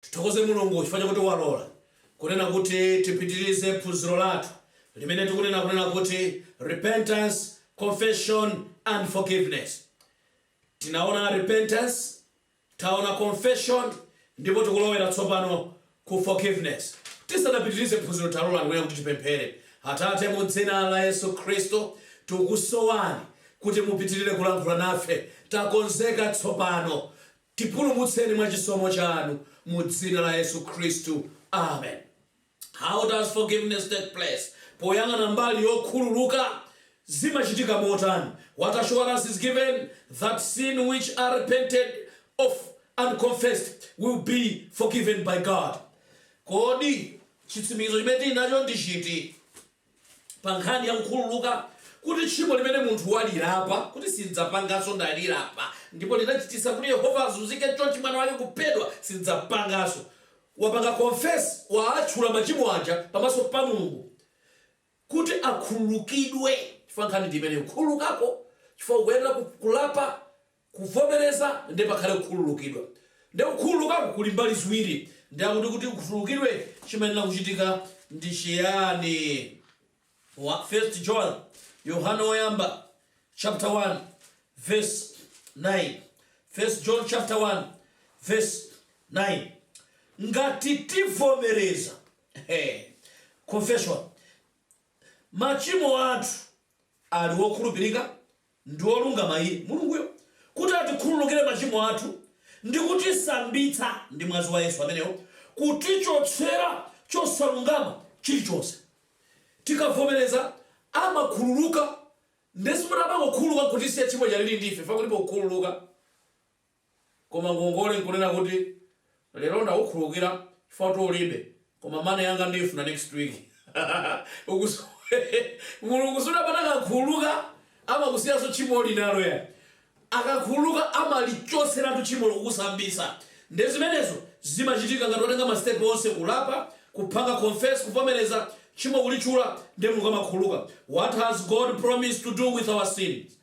Tithokoze Mulungu chifukwa chakuti walola kunena kuti tipitirize phunziro lathu limene tikunena kunena kuti Repentance, Confession and Forgiveness. Tinaona repentance, Taona confession ndipo tikulowera tsopano ku forgiveness. Tisanapitirize phunziro talolani kunena kuti tipemphere. Atate, mu dzina la Yesu Khristu, tikukusowani kuti mupitirire kulankhula nafe. Takonzeka tsopano. Tipulumutseni mwa chisomo chanu. Mu dzina la Yesu Khristu. Amen. How does forgiveness take place? Poyang'ana mbali yokhululuka, zimachitika motani? What assurance is given that sin which are repented of and confessed will be forgiven by God? Kodi chitsimikizo chimene tili nacho ndi chiti? pa nkhani ya kukhululuka kuti tchimo limene munthu walilapa kuti sindzapanganso ndalilapa ndipo linachitisa kuti Yehova azunzike chonchi mwana wake kuphedwa sindzapanganso wapanga confess waatchula machimo aja pamaso pa Mulungu kuti akhululukidwe chifukwa nkhani ndi imeneyo khululukako chifukwa ukuyenera ku- kulapa kuvomereza nde pakhale kukhululukidwa nde kukhululukaku kuli mbali ziwiri nde akuti kuti ukhululukidwe chimayenera kuchitika ndi chiyani first john yohane woyamba chapter 1 verse 9 first john chapter 1 verse 9 ngati tivomereza hey, confession machimo athu ali wokhulupirika ndi wolungama Iye, Mulunguyo, kuti atikhululukire machimo athu ndi kutisambitsa ndi mwazi wa Yesu amenewo, kutichotsera chosalungama chilichonse. Tikavomereza, amakhululuka. Ndiye sikuti amangokhululuka nkutisiya tchimo lija lili ndi ife, chifukwa kulipo kukhululuka. Koma ngongole nkunena kuti lero ndakukhululukira chifukwa kuti ulibe koma money yanga ndiyifuna next week ukuziwa mulungu sikuti pamene akakhululuka amakusiyanso tchimo uli nalo ayi akakhululuka amalichotseratu tchimolo kukusambitsa nde zimenezo zimachitika ngati watenga ma step onse kulapa kupanga confess kuvomereza tchimo kulitchula nde mulungu amakhululuka what has God promised to do with our sins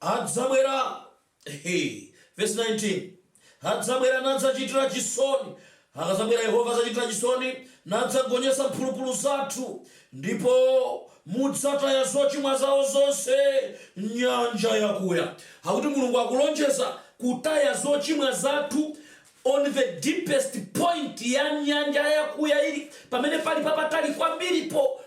Adzabwera, He, vesi 19, Adzabwera nadzachitira chisoni, Akadzabwera Yehova adzachitira chisoni, Nadzagonjetsa mphulupulu zathu, Ndipo mudzataya zochimwa zawo zonse m'nyanja yakuya. Akuti Mulungu akulonjeza kutaya zochimwa zathu On the deepest point ya nyanja yakuya ili pamene pali papatali kwambiripo,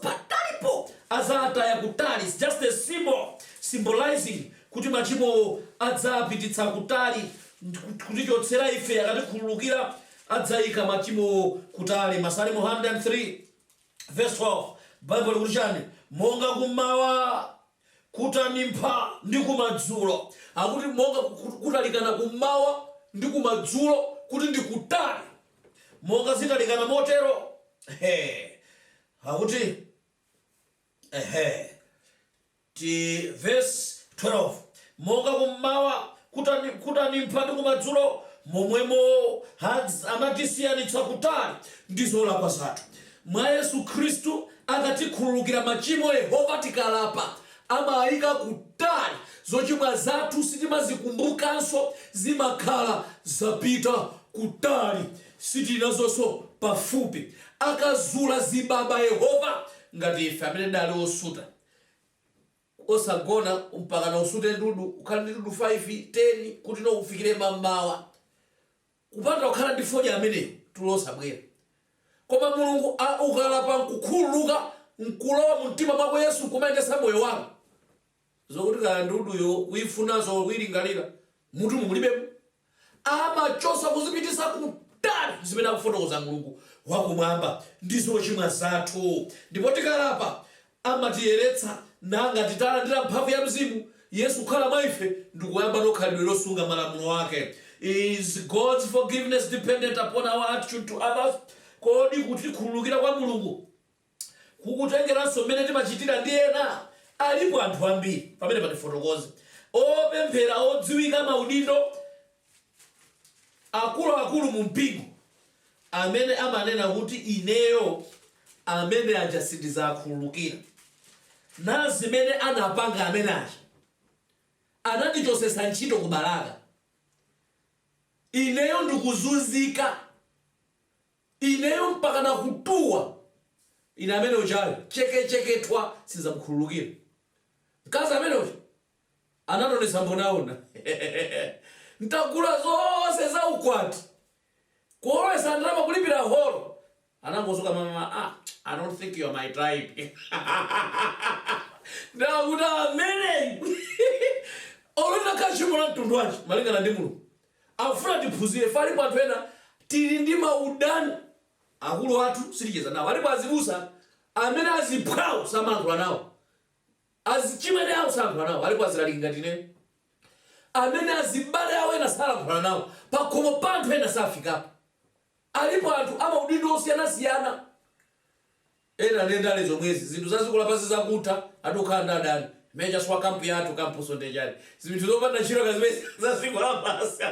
patalipo adzataya kutali is just a symbol symbolizing kuti machimowo adzapititsa kutali kutichotsera ife akatikhululukira adzaika machimowo kutali Masalimo 103 verse 12 Bible likuti chani monga kummawa Kutanimpha ndi kumadzulo. Akuti monga kutalikana kummawa ndi kumadzulo kuti ndi kutali. Monga zitalikana motero? He! Akuti, he, ti, vesi 12, Monga kum'mawa kutanimpha ndi kumadzulo, momwemo amatisiyanitsa kutali ndi zolakwa zathu. Mwa Yesu Kristu akatikhululukira machimo, Yehova, tikalapa, amaika kutali zochimwa zathu, sitimazikumbukanso, zimakhala zapita kutali, sitili nazonso pafupi. Akazula zibaba, Yehova, ngati ife amene tidali osuta. Osagona mpakana usute ndudu, ukhale ndi ndudu 5, 10 kuti no ufikire mammawa. Kupanda kukhala ndi fodya ameneyo tulo osabwera. Koma Mulungu ukalapa nkukhululuka nkulowa mumtima mwako Yesu nkumayendetsa moyo wako, zokuti kaya nduduyo kuyifunaso or kuyilingalira, mmutumo mulibemo. Amachosa kuzipitisa kutali zimene akufotokoza Mulungu wakumwamba ndi zochimwa zathu ndipo tikalapa amatiyeretsa nangati talandira mphamvu ya Mzimu Yesu kukhala mwa ife ndikuyambano khalidwe losunga malamulo ake Is God's forgiveness dependent upon our attitude to others? Kodi kutikhululukira kwa Mulungu. kukutengeranso mmene timachitira ndi ena? Alipo anthu ambiri, pamenepa tifotokoze, opemphera odziwika maudindo akuluakulu mu mpingo amene amanena kuti ineyo amene aja sindizakhululukira. Nazimene anapanga amene aja. Anandichosesa ntchito ku Balaka. Ineyo ndikuzunzika. Ineyo mpakana kutuwa ine amene ujayo cheke cheke thwa sinzamukhululukira mkazi amene uja anandonesa mbonaona ntagula zonse za ukwati kuolowesa, ndalama kulipira holo anangozuka mama ah I don't think you're my type ndinati ameneyu olo litakhala tchimo la mtundu wanji malingana ndi Mulungu Afuna tiphunzire ife alipo anthu ena tili ndi maudani akulu athu siticheza nawo alipo azibusa amene aziphwawo samalankhula nawo azichimwene awo salankhula nawo alipo azilaliki ngati ine amene azibale awo ena salankhula nawo pakhomo pa anthu ena safikapo alipo anthu amaudindo osiyanasiyana Ena nde ndale zomwezi, zinthu za dziko lapansi zakutha, ati ukhala ndi adani, major swa camp yathu campnso nde chani, zinthu zopanda ntchito ka zimenezi za dziko lapansi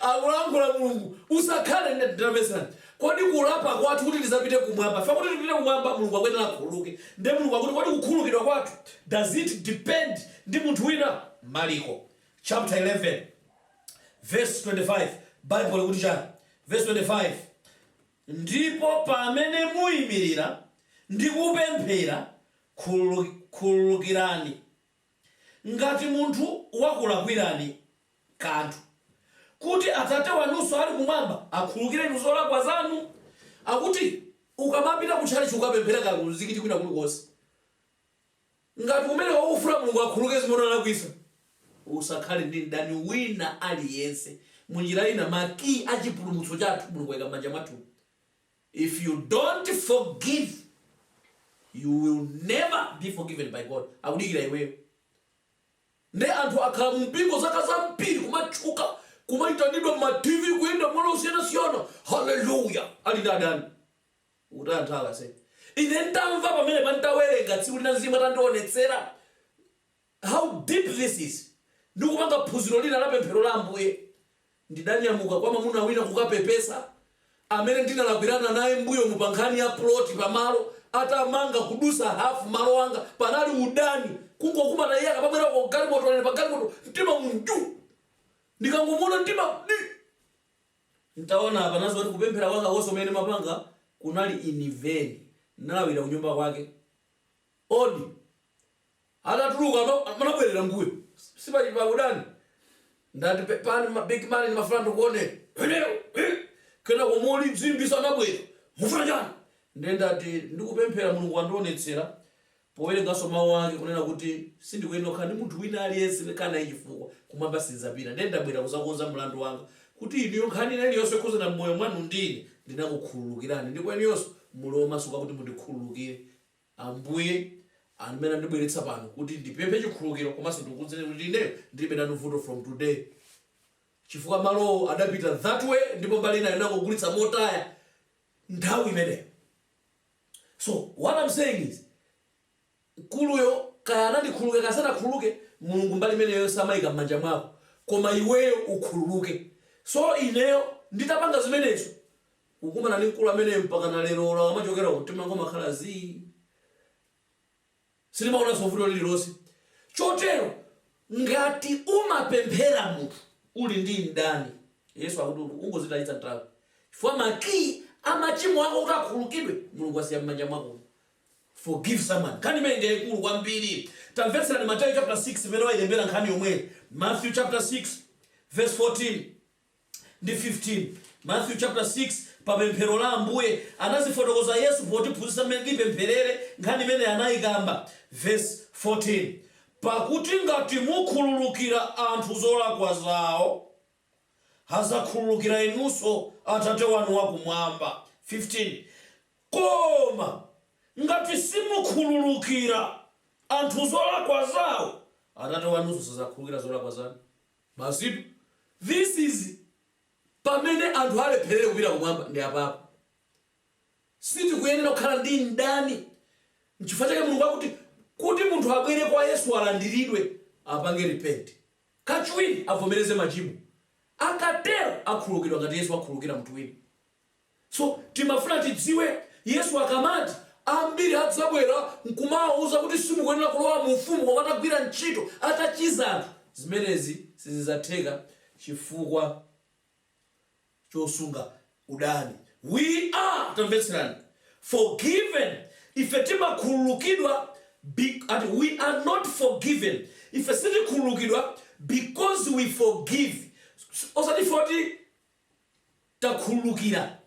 akulankhula mulungu usakhale ndi mdani nde kodi kulapa kwathu kuti tidzapite kumwamba chifukwa kuti tipite kumwamba mulungu akuyenera akhululuke nde mulungu akuti kodi kukhululukidwa kwathu does it depend ndi munthu wina maliko chapter 11 verse 25 bible likuti chani verse 25 Ndipo pamene muimirira ndi kupemphera, khululukirani ngati munthu wakulakwirani kanthu, kuti Atate wanunso ali Kumwamba akhululukire inu zolakwa zanu. Akuti, ukamapita ku tchalitchi, ukapemphera kaya ku mzikiti, kwina kulikonse. Ngati umeneyo ukufuna Mulungu akhululuke zimene unalakwitsa, usakhale ndi mdani wina aliyense. Mu njira ina, ma key a chipulumutso chathu Mulungu waika m'manja mwathu. If you don't forgive, you will never be forgiven by God. Akudikira iweyo. Nde anthu akhala mu mpingo zaka zambiri, kumatchuka, kumaitanidwa m'ma TV, kuyenda m'malo osiyanasiyana, hallelujah, ali ndi adani. Ukuti anthu awa asee. Ine ntamva pamenepa ntawerenga tsiku lina mzimu atandionetsera how deep this is ndikupanga phunziro lina la pemphero la Ambuye ndidanyamuka kwa mamuna wina kukapepesa amene ndinalakwirana naye mbuyomu pa nkhani ya plot pa malo atamanga kudutsa half malo anga panali udani kungokumana iye akamabwera uko pa galimoto ine pa galimoto mtima umu nju ndikangomuona mtima di Ntaona apa ndinazindikira kuti kupemphera kwanga konse kumene ndimapanga kunali in vain. Ndinalawira kunyumba kwake. Odi atatuluka man anabwerera mbuyo. Sipali paudani. Ndati pepani big man ndimafuna ndikuoneni. Ineyo ih! Kenako molilimbitsa anabwera. Mufuna chani? Nde ndati ndikupemphera Mulungu wandionetsera powerenganso mau ake kunena kuti sindikuyenera kukhala ndi munthu wina aliyense kukhala naye chifukwa kumwamba sindidzapita ndiye ndabwera kudzakonza mlandu wanga kuti inuyo nkhani iliyonse yokhuzana mmoyo mwanu ndine ndinakukhululukirani ndipo inuyonso muli omasuka kuti mundikhululukire Ambuye ndi amene andibweretsa pano kuti ndipemphe chikhululukiro komanso ndikukuuzeni kuti ineyo ndilibe nanu vuto from today chifukwa malowo adapita that way ndipo mbali inayo ndinangogulitsa motaya nthawi imeneyo. So what am saying is mkuluyo kaya anandikhululukira kaya sanakhululuke Mulungu mbali imeneyo amaika mmanja mwako koma iweyo ukhululuke so ineyo nditapanga zimenezo kukumana ndi mkulu ameneyo mpakana lero olo akamachokera uko mtima wanga umakhala zii. sindimaonanso vuto lililonse chotero ngati umapemphera munthu uli ndi mdani yesu akuti ungozitayitsa nthawi chifukwa makiyi amachimo ako kuti akhululukidwe mulungu asiya m'manja mwako forgive someone nkhani imeneyi ndi yaikulu kwambiri tamvetserani mateyu chapter 6 imene ailembera nkhani yomweyo matthew chapter 6 verse 14 ndi 15. Mathew chapter 6, Pa pemphero la Ambuye, anazifotokoza Yesu potiphunzitsa mmene tipempherere, nkhani imeneyi anayikamba, vesi 14. Pakuti ngati mukhululukira anthu zolakwa zawo, adzakhululukira inunso Atate wanu wa kumwamba, 15. Koma ngati simukhululukira anthu zolakwa zawo, Atate wanunso sadzakhululukira zolakwa zanu. Basitu, this is pamene anthu alepherere kupita kumwamba ndi apapo. Sitikuyenera kukhala ndi mdani. Nchifukwa chake Mulungu akuti, kuti munthu abwere kwa Yesu alandiridwe, apange repent. Kachiwiri avomereze machimo. Akatero akhululukidwa ngati Yesu akhululukira munthu wina. So, timafuna tidziwe, Yesu akamati, Ambiri adzabwera n'kumawauza kuti simukuyenera kulowa mu Ufumu koma atagwira ntchito, atachiza anthu, zimenezi sizidzatheka chifukwa chosunga udani. We are, tamvetserani, forgiven, ife timakhululukidwa, and we are not forgiven, ife sitikhululukidwa because we forgive, osati ife oti takhululukira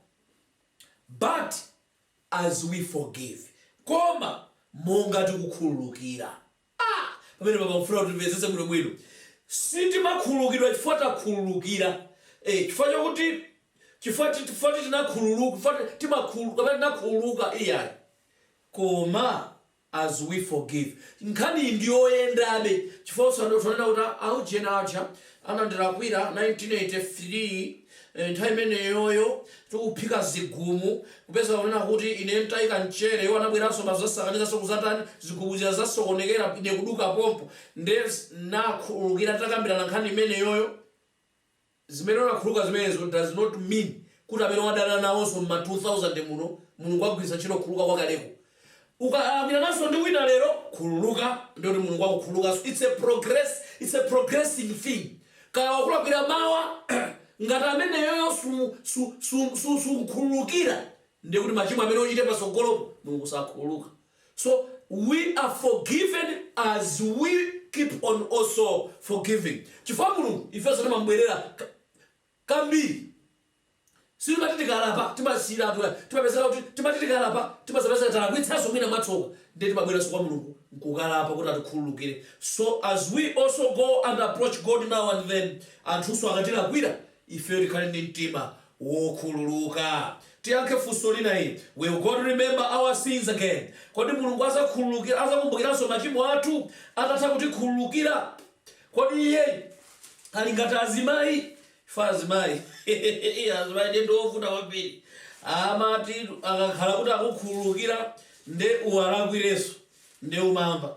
But as we forgive koma monga tikukhululukira ah! pamenepa ndikufuna kuti timvetsetse bwinobwino sitimakhululukidwa chifukwa takhululukira eh, chifukwa chakuti chifukwa ti- chifukwa ti tinakhululuka chifukwa ti- timakhulu- kapena tinakhululuka iyayi koma as we forgive. Nkhaniyi ndiyoyendabe chifukwa osati zonena kuti a ujeni aja anandilakwira 1983 nthawi imeneyoyo tikuphika zigumu kupeza kunena kuti ine ntaika mchere iwo anabweranso nkudzasakanizanso kudzatani zigumu zija zasokonekera ine kuduka pompo nde nakhululukira nditakambirana nkhani imeneyoyo. Zimene unakhululuka zimenezo does not mean kuti amene wadana nawonso mma 2000 muno Mulungu agwiritsa ntchito kukhululuka kwakaleko. Ukalakwirananso ndi wina lero khululuka ndiye kuti Mulungu akukhululukanso it's a progress it's a progressing thing kaya wakulakwira mawa ngati ameneyoyo sumu su su su sumukhululukira ndiye kuti machimo amene uchite patsogolopo Mulungu sakhululuka. So we are forgiven as we keep on also forgiving. Chifukwa Mulungu ifenso timamubwerera ka- kambiri. Sitimati tikalapa timasiyiratu ayi. Timapezeka kuti timati tikalapa timazapezeka talakwitsanso mwina mwatsoka ndiye timabweranso kwa Mulungu nkukalapa kuti atikhululukire. So as we also go and approach God now and then anthunso akatilakwira ifeyo tikhale ndi mtima wokhululuka. Tiyankhe funso lina ili, Will God remember our sins again? Kodi Mulungu azakhululukira, azakumbukiranso machimo athu atatha kutikhululukira? Kodi iye ali ngati azimayi? Ife azimayi, azimayi ndiye ndiwovuta kwambiri. Amati akakhala kuti akukhululukira nde uwalakwirenso nde umamva.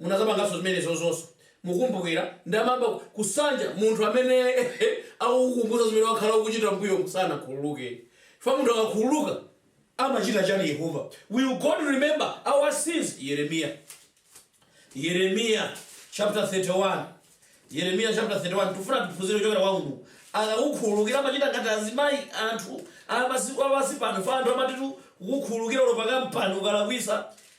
munazapanganso zimenezonso mukumbukira nde amayamba kusanja munthu amene akukukumbutsa zimene wakhala ukuchita mbuyomu sanakhululuke chifukwa munthu akakhululuka amachita chani yehova will god remember our sins yeremiya yeremiya chapter 31 yeremiya chapter 31 tifuna tiphunzire kuchokera kwa mulungu akakukhululukira amachita ngati azimayi anthu amasiku apano fa anthu amati akakukhululukira ulo pakampani ukalakwisa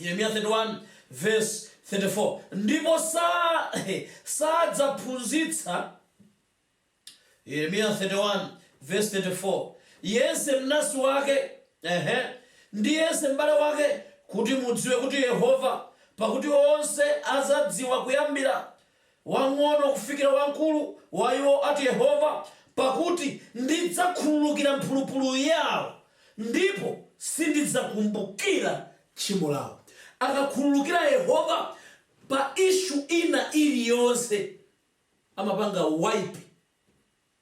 Yeremiya 31 vesi 34 ndipo sa sadzaphunzitsa Yeremiya 31 vesi 34 yense mnasi wake ehe, ndi yense m'bale wake kuti mudziwe kuti Yehova pakuti onse adzadziwa kuyambira wamng'ono kufikira wamkulu wa iwo, ati Yehova, pakuti ndidzakhululukira mphulupulu yao, ndipo sindidzakumbukira tchimo lao. Akakhululukira Yehova pa issue ina iliyonse, amapanga wipe.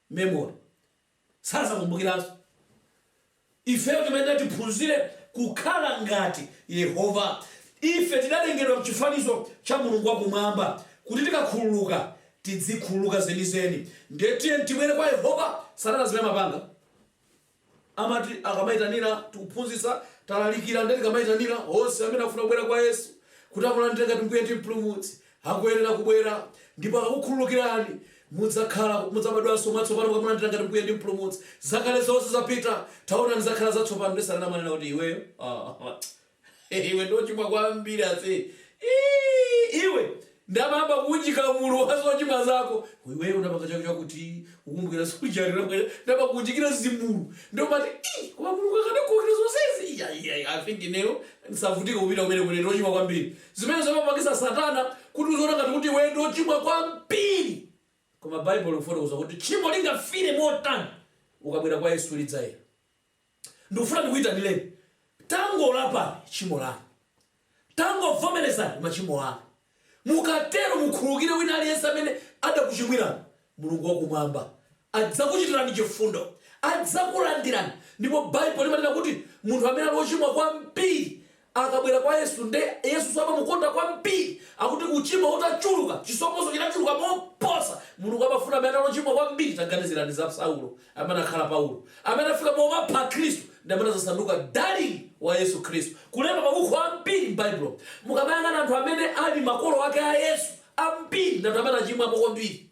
memory sazakumbukiranso ifeyo timayenera tiphunzire kukhala ngati yehova ife tidalengedwa mchifanizo cha mulungu wa kumwamba kuti tikakhululuka tidzikhululuka zenizeni ndiye tiyeni tibwere kwa yehova satana zimene amapanga Amati tikamaitanira tikuphunzitsa, talalikira nde tikamaitanira onse amene akufuna kubwera kwa Yesu kuti amulandire ngati Mbuye ndi Mpulumutsi akuyenera kubwera ndipo akakukhululukirani mudzakhala mudzabadwanso mwatsopano mukamulandira ngati Mbuye ndi Mpulumutsi. Zakale zonse zapita taonani zakhala zatsopano nde Satana amanena kuti iweyo aah. iwe ndiochimwa kwambiri ase Iii, iwe nde amayamba kuunjika mulu wa zochimwa zako iwe unapanga chakuti chakuti ukumbukira sujari unapanga- ndaba kuunjikira zimulu nde umati "Ii, koma mulungu akadakhulukira zonsezi Iya, iya, iya, i think ineyo ndisavutike kupita kumeneko ine ndiochimwa kwambiri zimene zimapangitsa satana kuti uziona ngati kuti iwe ndiochimwa kwambiri koma baibulo likufotokoza kuti tchimo lingafiire motani ukabwera kwa yesu lidzayera Ndikufuna ndikuitanireni. Tangolapani tchimo lanu. Tangovomerezani machimo anu. Mukatero mukhululukire wina aliyense amene adakuchimwirani. Mulungu wa Kumwamba adzakuchitirani chifundo. Adzakulandirani. Ndipo Baibulo limanena kuti munthu amene ali wochimwa kwambiri akabwera kwa Yesu nde Yesuso amamukonda kwambiri akuti uchimo utachuluka chisomonso chinachuluka moposa Mulungu amafuna amene anali ochimwa kwambiri taganizirani za Saulo amene anakhala Paulo amene anafika pomapha Akhristu ndi amene anadzasanduka dalili wa Yesu Khristu kulemba mabuku ambiri m'Baibulo mukamayang'ana anthu amene ali makolo ake a Yesu ambiri ndi anthu amene achimwapo kwambiri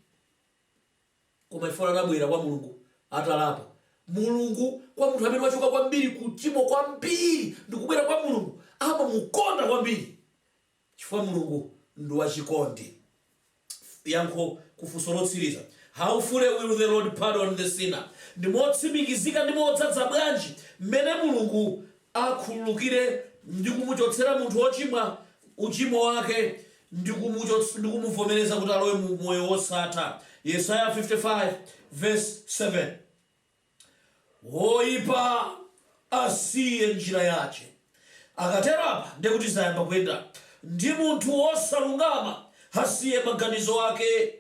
Koma chifukwa anabwera kwa Mulungu atalapa, Mulungu, kwa munthu amene wachoka kwambiri ku uchimo, kwambiri, ndi kubwera kwa Mulungu, amamukonda kwambiri, chifukwa Mulungu ndi wachikondi. Yankho ku funso lotsiriza, How fully will the Lord pardon the sinner? Ndi motsimikizika ndi modzadza bwanji mmene Mulungu akhululukire ndi kumuchotsera munthu wochimwa uchimo wake ndi kumuvomereza kuti alowe mu moyo wosatha yesaya 55 verse 7 woipa asiye njira yace akatero apa ndekuti zayamba kuyenda ndi munthu wosalungama asiye maganizo ake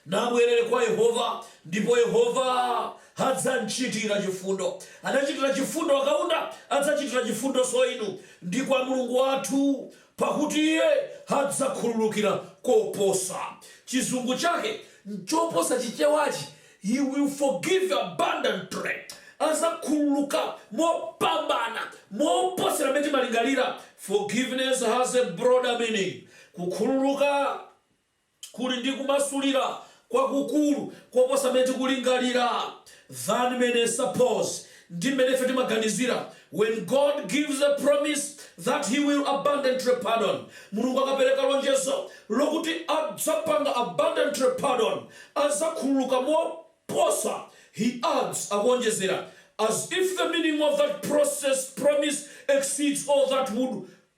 Nabwerere kwa Yehova, ndipo Yehova adzamchitira chifundo. Adachitira chifundo a Kaunda, adzachitira chifundonso inu, ndi kwa Mulungu wathu, pakuti Iye adzakhululukira koposa. Chizungu chake nchoposa Chichewachi, He will forgive abundantly. Adzakhululuka mopambana, moposera m'mene timalingalira. Forgiveness has a broader meaning. Kukhululuka kuli ndi kumasulira kwakukulu koposa mmene tikulingalira than many suppose ndi mmene ife timaganizira when God gives a promise that he will abundantly pardon Mulungu akapereka lonjezo lokuti adzapanga abundantly pardon adzakhululuka moposa he adds akuonjezera as if the meaning of that process promise exceeds all that we could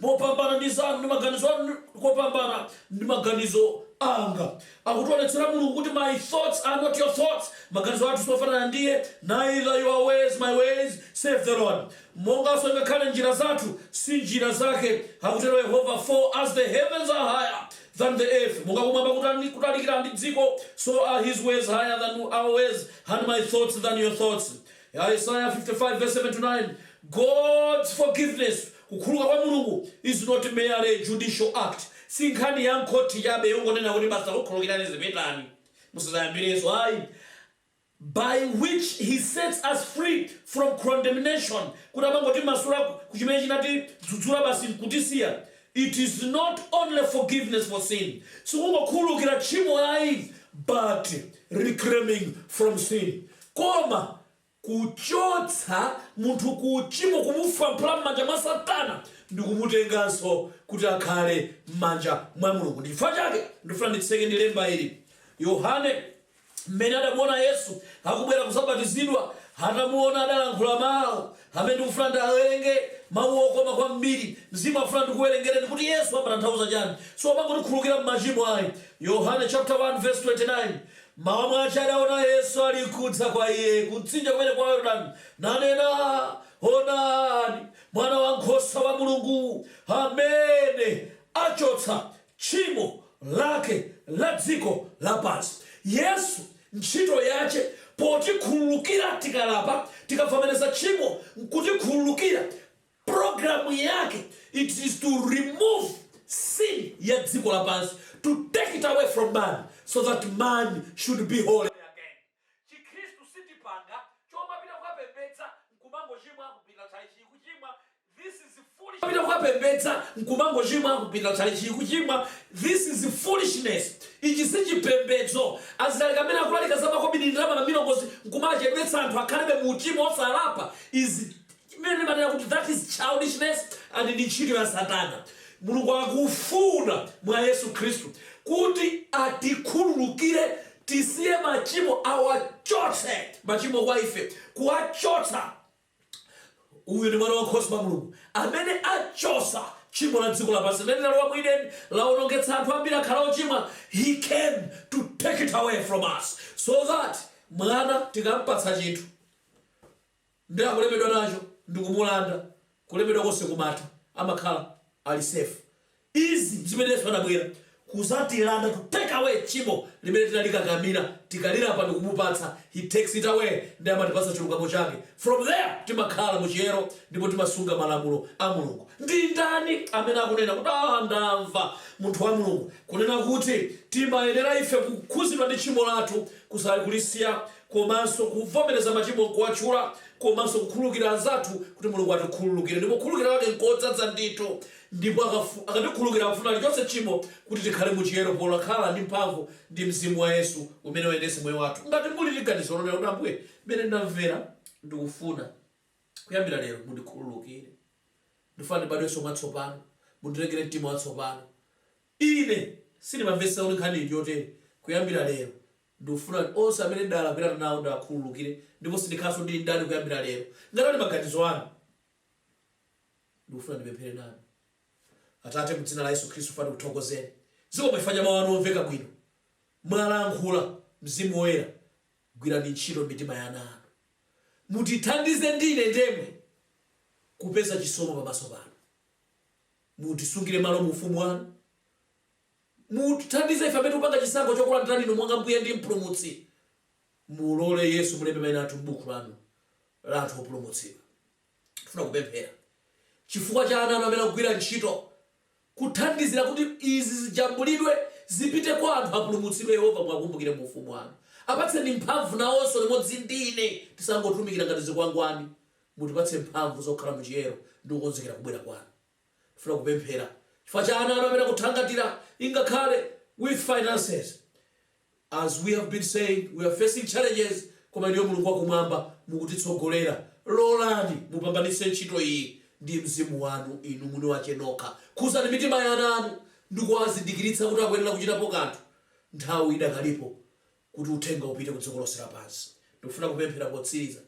mopambana ndi zanu ndi maganizo anu kopambana ndi maganizo anga akutionetsera mulungu kuti my thoughts are not your thoughts maganizo athu siofanana ndiye neither your ways my ways saith the lord monganso ngakhale njira zathu si njira zake akutero yehova for as the heavens are higher than the earth monga kumwamba kutalikira ndi dziko so are his ways higher than our ways and my thoughts than your thoughts Isaiah 55 verse 7 to 9 God's forgiveness Kukhululuka kwa Mulungu is not merely a judicial act, si nkhani ya m'khothi chabe yongonena kuti basi takukhululukirani zipitani musadzayambirenso ayi, by which He sets us free from condemnation, kuti amangotimasula ku chimene chinatidzudzula basi nkutisiya. It is not only forgiveness for sin, sikungokhululukira tchimo ayi, but reclaiming from sin, koma kuchotsa munthu ku uchimo, kumufwampula m'manja mwa Satana, ndi kumutenganso kuti akhale m'manja mwa Mulungu. Ndi chifukwa chake ndifuna nditseke ndi lemba ili. Yohane, m'mene adamuona Yesu akubwera kuzabatizidwa, atamuona adalankhula mau amene ndikufuna ndiawerenge, mau okoma kwambiri. Mzimu afuna ndikuwerengereni kuti Yesu amatanthauza chani. Siwomangotikhululukira m'machimo ayi. Yohane chapter 1 verse 29. M'mawa mwace adaona Yesu alinkudza kwa iye kumtsinje kumene kwa Yordani, nanena, Onani, Mwanawankhosa wa Mulungu, amene acotsa cimo lake la dziko lapansi. Yesu nchito yace potikhululukira tikalapa, tikavomereza cimo nkutikhululukira. program yake it is to remove sin ya dziko lapansi to take it away from man so that man should be holy again chikhristu sitipanga chomapita kukapembedza nkumangochimwa kupita chalichi kuchimwa this is foolish pita kukapembedza nkumangochimwa kupita chalichi kuchimwa this is foolishness ichi si chipembedzo azilaliki amene akulalika za makobidi ndalama na milongozi nkumachedwetsa anthu akhalebe mu uchimo osalapa is chimene ndimanena kuti that is childishness and ndi ntchito ya satana. Mulungu akufuna mwa Yesu Khristu kuti atikhululukire tisiye machimo awachotse machimo kwa ife kuwachotsa uyu ndi mwana wankhosa wa mulungu amene achosa tchimo la dziko lapansi limene linalowa mu ideni lawonongetsa anthu ambiri akhala ochimwa he came to take it away from us so that mwana tikampatsa chinthu Ndi akulemedwa nacho ndikumulanda kulemedwa konse kumatha amakhala Ali safe. Izi ndizimene Yesu anabwera kuzatilanda to take away tchimo limene tinalikakamira tikalilapa ndikumupatsa he takes it away ndiye amatipatsa chilungamo chake from there timakhala muchiyero ndipo timasunga malamulo a Mulungu. Ndindani amene akunena kuti aah ndamva munthu wa Mulungu kunena kuti timayenera ife kukhuzidwa ndi tchimo lathu kulisiya komanso kuvomereza machimo kuwatchula, komanso kukhululukira anzathu kuti Mulungu atikhululukire, ndipo kukhululukira kwake nkodzadza ndithu, ndipo akafu, akatikhululukira akufuna alichotse tchimo kuti tikhale mu chiyero polakhala ndi mphamvu ndi Mzimu wa Yesu umene uyendetse moyo wathu. Ngati muli ndi ganizo lonena kuti Ambuye, mmene ndamvera, ndikufuna kuyambira lero mundikhululukire, ndikufuna ndibadwenso mwatsopano, mundilengere mtima watsopano, ine sindimamvetsetsa kuti nkhaniyi ndiyotere, kuyambira lero Ndikufuna kuti onse amene ndalakwirana nawo ndiwakhululukire ndipo sindikhalanso ndi mdani kuyambira lero. Ngati ali maganizo anu, ndikufuna ndipemphere nanu. Atate, mu dzina la Yesu Khristu funa tikuthokozeni. Zikomo chifukwa cha mau anu omveka bwino. Mwalankhula, Mzimu Woyera gwirani ntchito m'mitima ya ana anu. Mutithandize ndi ine ndemwe kupeza chisomo pamaso panu. Mutisungire malo mu ufumu wanu. Mutithandize ife amene tikupanga chisankho chokulandirani Inu monga Mbuye ndi Mpulumutsi. Mulole, Yesu, mulembe maina athu m'Bukhu Lanu la anthu opulumutsidwa. Tikufuna kupemphera chifukwa cha ana Anu amene akugwira ntchito, kuthandizira kuti izi zijambulidwe, zipite kwa anthu, apulumutsidwe. Yehova, muwakumbukire mu Ufumu Wanu. Apatseni mphamvu, nawonso, limodzi ndi ine. Tisangotumikira ngati zikwangwani. Mutipatse mphamvu zokhala mu chiyero ndi kukonzekera kubwera Kwanu. Ndifuna kupemphera chifukwa cha ana anu amene akuthangatira ingakhale with finances. As we have been saying, we are facing challenges koma inuyo Mulungu wakumwamba mukutitsogolera. Lolani mupambanitse ntchito iyi ndi Mzimu wanu inu mwini wache nokha. Khuzani mitima ya ana anu ndikuwazindikiritsa kuti akuyenera kuchitapo kanthu. Nthawi idakalipo. kuti uthenga upite ku dziko lonse lapansi. Ndikufuna kupemphera potsiriza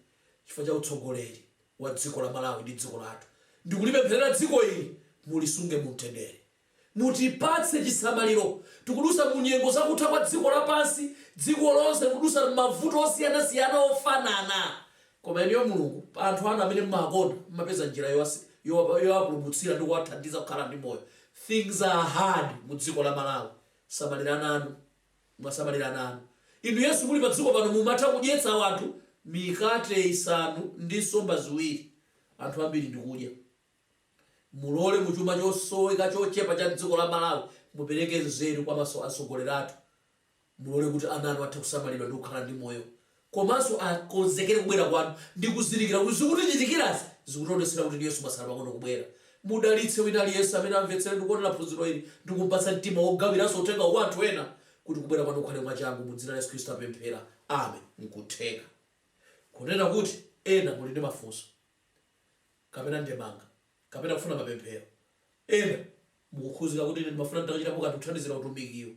chifukwa cha utsogoleri wa dziko la Malawi ndi dziko lathu. Ndikulipempherera dziko ili, mulisunge mu mtendere. Mutipatse chisamaliro. Tikudutsa mu nyengo za kutha kwa dziko lapansi. Dziko lonse likudutsa m'mavuto osiyanasiyana ofanana. Koma inuyo Mulungu, pa anthu anu amene mumawakonda, mumapeza njira yowapulumutsira ndi kuwathandiza kukhala ndi moyo. Things are hard mu dziko la Malawi. Samalirani ana anu. Mwasamalira ana anu, Inu Yesu muli padziko pano mumatha kudyetsa wanthu mikate isanu ndi nsomba ziwiri anthu ambiri ndikudya. Mulole mu chuma chosoweka chochepa cha dziko la Malawi mupereke nzeru kwa maso a atsogoleri athu. Mulole kuti ana anu athe kusamalidwa ndikukhala ndi moyo komanso akonzekere kubwera kwanu ndi kuzindikira kuti zikutichitikirazi zikutionetsera kuti Yesu mwatsala pang'ono kubwera. Mudalitse wina aliyense amene amvetsere ndi kuonera phunziro ili ndi kumpatsa mtima wogawiranso uthengawu kwa anthu ena kuti kubwera kwanu kukhale mwachangu mu dzina la Yesu Khristu tapemphera. Amen. Nkutheka kunena kuti ena muli ndi mafunso kapena ndemanga kapena kufuna mapemphero. Ena mukukhuzika kuti ine ndimafuna nditachitapo kanthu kuthandizira utumikiwu.